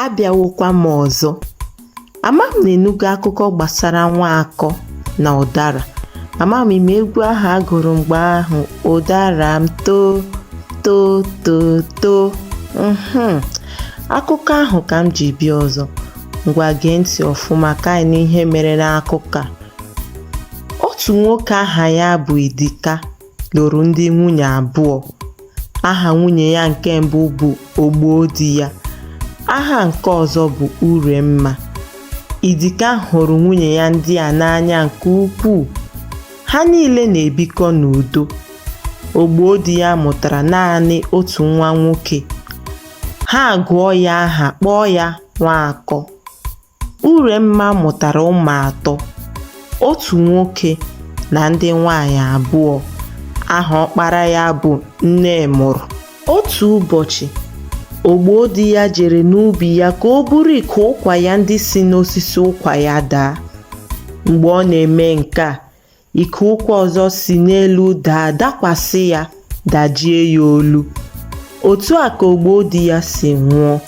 abịawokwa m ọzọ ama m na ị nụgo akụkọ gbasara nwaakọ na ụdara ama m ị ma egwu ahụ a gụrụ mgbe ahụ ụdara m too too too too mhm. akụkọ ahụ ka m ji bịa ọzọ ngwa gee ntị ọfụma ka anyị nụ ihe mere n'akụkọ a otu nwoke aha ya bụ Idika lụrụ ndị nwunye abụọ aha nwunye ya nke mbụ bụ ogbodiya aha nke ọzọ bụ uremma idika hụrụ nwunye ya ndị a n'anya nke ukwuu ha niile na-ebikọ n'udo ogbodiya mụtara naanị otu nwa nwoke ha agụọ ya aha kpọọ ya nwaakọ Uremma mụtara ụmụ atọ, otu nwoke na ndị nwaanyị abụọ. Aha ọkpara ya bụ Nnemụrụ. Otu ụbọchị, Ogbodiya jere n'ubi ya ka o buru ike ụkwa ya ndị si n'osisi ụkwa ya daa. Mgbe ọ na-eme nke a, ike ụkwa ọzọ si n'elu daa dakwasị ya dajie ya olu otu a ka ogbodiya si nwụọ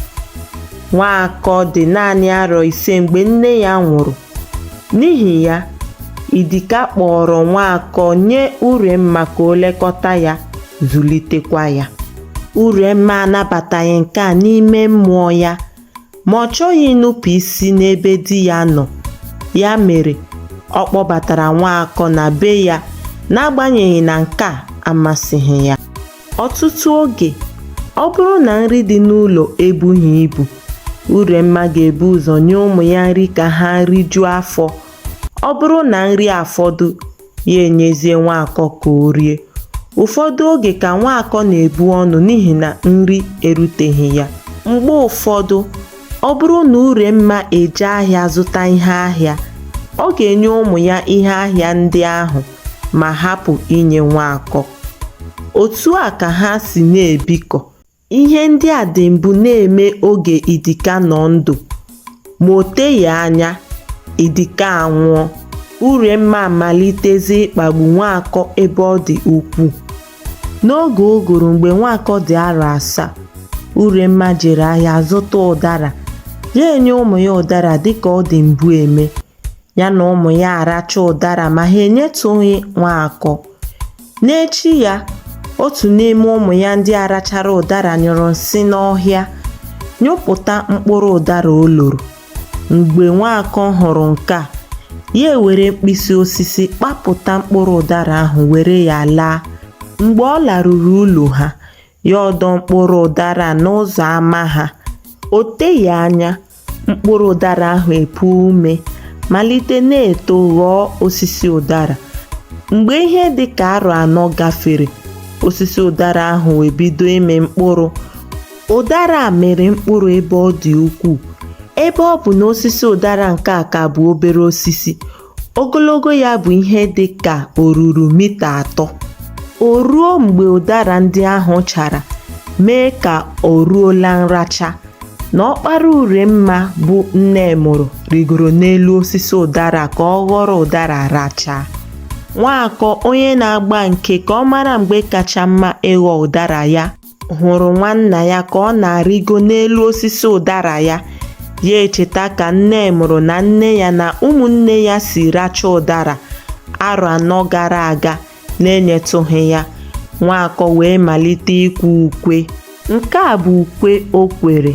nwaakọ dị naanị arọ ise mgbe nne ya nwụrụ n'ihi ya idika kpọọrọ nwaakọ nye uremma ka o lekọta ya zụlitekwa ya uremma anabataghị nke a n'ime mmụọ ya ma ọ chọghị inupụ isi n'ebe di ya nọ ya mere ọ kpọbatara nwaakọ na be ya n'agbanyeghị na nke a amasịghị ya ọtụtụ oge ọ bụrụ na nri dị n'ụlọ ebughị ibu uremma ga-ebu ụzọ nye ụmụ ya nri ka ha rijuo afọ ọ bụrụ na nri afọdụ ya enyezie nwaakọ ka o rie ụfọdụ oge ka nwaakọ na-ebu ọnụ n'ihi na nri eruteghị ya mgbe ụfọdụ ọ bụrụ na uremma eje ahịa zụta ihe ahịa ọ ga-enye ụmụ ya ihe ahịa ndị ahụ ma hapụ inye nwaakọ otu a ka ha si na-ebikọ Ihe ndị a dị mbụ na-eme oge Idika nọ ndụ, ma o teghị anya, Idika anwụọ, Uremma amalitezie ịkpagbu Nwaakọ ebe ọ dị ukwuu. N'oge ụgụrụ mgbe Nwaakọ dị arọ asaa, Uremma jere ahịa zụta ụdara, ya enye ụmụ ya ụdara dịka ọ dị mbụ eme. ya na ụmụ ya aracha ụdara ma ha enyetụghị nwaakọ n'echi ya otu n'ime ụmụ ya ndị a rachara ụdara nyụrụ nsị n'ọhịa nyụpụta mkpụrụ ụdara o loro mgbe nwaakọ hụrụ nke a ya ewere mkpịsị osisi kpapụta mkpụrụ ụdara ahụ were ya laa mgbe ọ laruru ụlọ ha ya ọdọ mkpụrụ ụdara n'ụzọ ama ha o teghị anya mkpụrụ ụdara ahụ epuo ume malite na-eto ghọọ osisi ụdara mgbe ihe dị ka arọ anọ gafere osisi ụdara ahụ ebido ịmị mkpụrụ ụdara a mịrị mkpụrụ ebe ọ dị ukwuu ebe ọ bụ na osisi ụdara nke a ka bụ obere osisi Ogologo ya bụ ihe dị ka oruru mita atọ. O ruo mgbe ụdara ndị ahụ chara mee ka o ruola nracha na ọkpara Uremma bụ Nnemụrụ rịgoro n'elu osisi ụdara ka ọ ghọrọ ụdara rachaa. Nwaakọ onye na-agba nke ka ọ mara mgbe kacha mma ịghọ ụdara ya hụrụ nwanna ya ka ọ na-arịgo n'elu osisi ụdara ya ya echeta ka Nnemụrụ na nne ya na ụmụnne ya si racha ụdara arọ anọ gara aga na-enyetụghị ya nwaakọ wee malite ikwe ukwe nke a bụ ukwe o kwere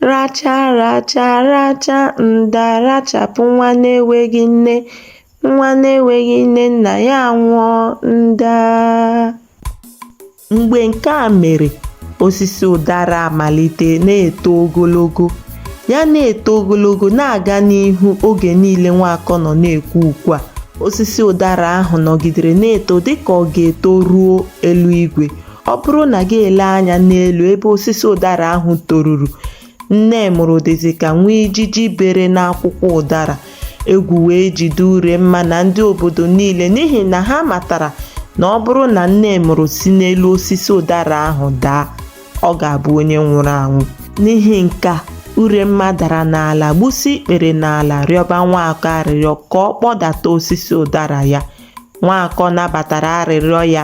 Racha racha racha nda rachapụ nwa na-enweghị nne, nwa na-enweghị nne nna ya anwụọ nda. Mgbe nke a mere, osisi ụdara amalite na-eto ogologo. Ya na-eto ogologo na-aga n'ihu oge niile Nwaakọ nọ na-ekwe ukwe a. Osisi ụdara ahụ nọgidere na-eto dịka ọ ga-eto ruo eluigwe. ọ bụrụ na gị ele anya n'elu ebe osisi ụdara ahụ toruru Nnemụrụ dịzi ka nwa ijiji bere n'akwụkwọ ụdara egwu wee jide Uremma na ndị obodo niile n'ihi na ha matara na ọ bụrụ na Nnemụrụ si n'elu osisi ụdara ahụ daa ọ ga-abụ onye nwụrụ anwụ n'ihi nke a Uremma dara n'ala gbusi ikpere n'ala rịọba Nwaakọ arịrịọ ka ọ kpọdata osisi ụdara ya Nwaakọ nabatara arịrịọ ya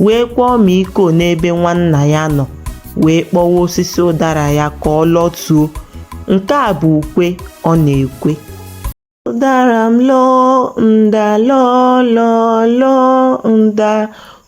wee kwaa ọmịiko n'ebe nwanna ya nọ wee kpọwa osisi ụdara ya ka ọ lọtuo. Nke a bụ ukwe ọ na-ekwe. Ụdara m lọọ nda lọọ lọọ lọọ nda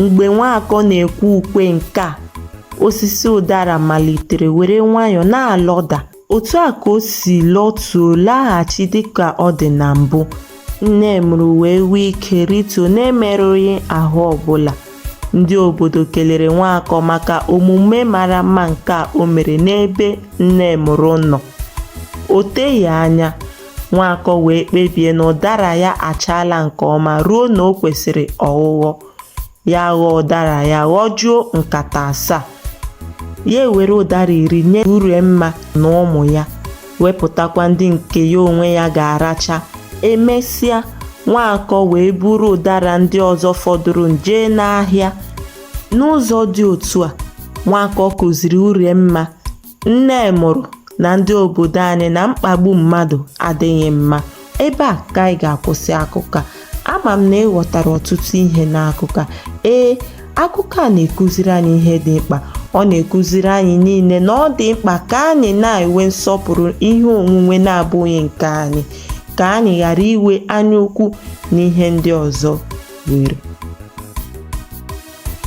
Mgbe Nwaakọ na-ekwe ukwe nke a, osisi ụdara malitere were nwayọọ na-alọda. Otu a ka o si lọtuo laghachi dịka ọ dị na mbụ. Nnemụrụ wee nwee ike rịtuo na-emerụghị ahụ ọbụla. Ndị obodo kelere Nwaakọ maka omume mara mma nke a o mere n'ebe Nnemụrụ nọ. O teghị anya, Nwaakọ wee kpebie na ụdara ya achaala nke ọma ruo na o kwesịrị ọghụghọ. Ya ghọọ ụdara ya ghọjuo nkata asaa. Ya ewere ụdara iri nye Uremma na ụmụ ya, wepụtakwa ndị nke ya onwe ya ga-aracha. E mesịa, Nwaakọ wee buru ụdara ndị ọzọ fọdụrụ jee n'ahịa. N'ụzọ dị otu a, Nwaakọ kụziri Uremma Nnemụrụ na ndị obodo anyị na mkpagbu mmadụ adịghị mma. Ebe a ka anyị ga-akwụsị akụkọ a. Ama m na ị ghọtara ọtụtụ ihe n'akụkọ a. Ee, akụkọ a na-ekuziri anyị ihe dị mkpa. Ọ na-ekuziri anyị niile na ọ dị mkpa ka anyị na-enwe nsọpụrụ ihe onwunwe na-abụghị nke anyị, ka anyị ghara inwe anyaukwu na ihe ndị ọzọ nwere.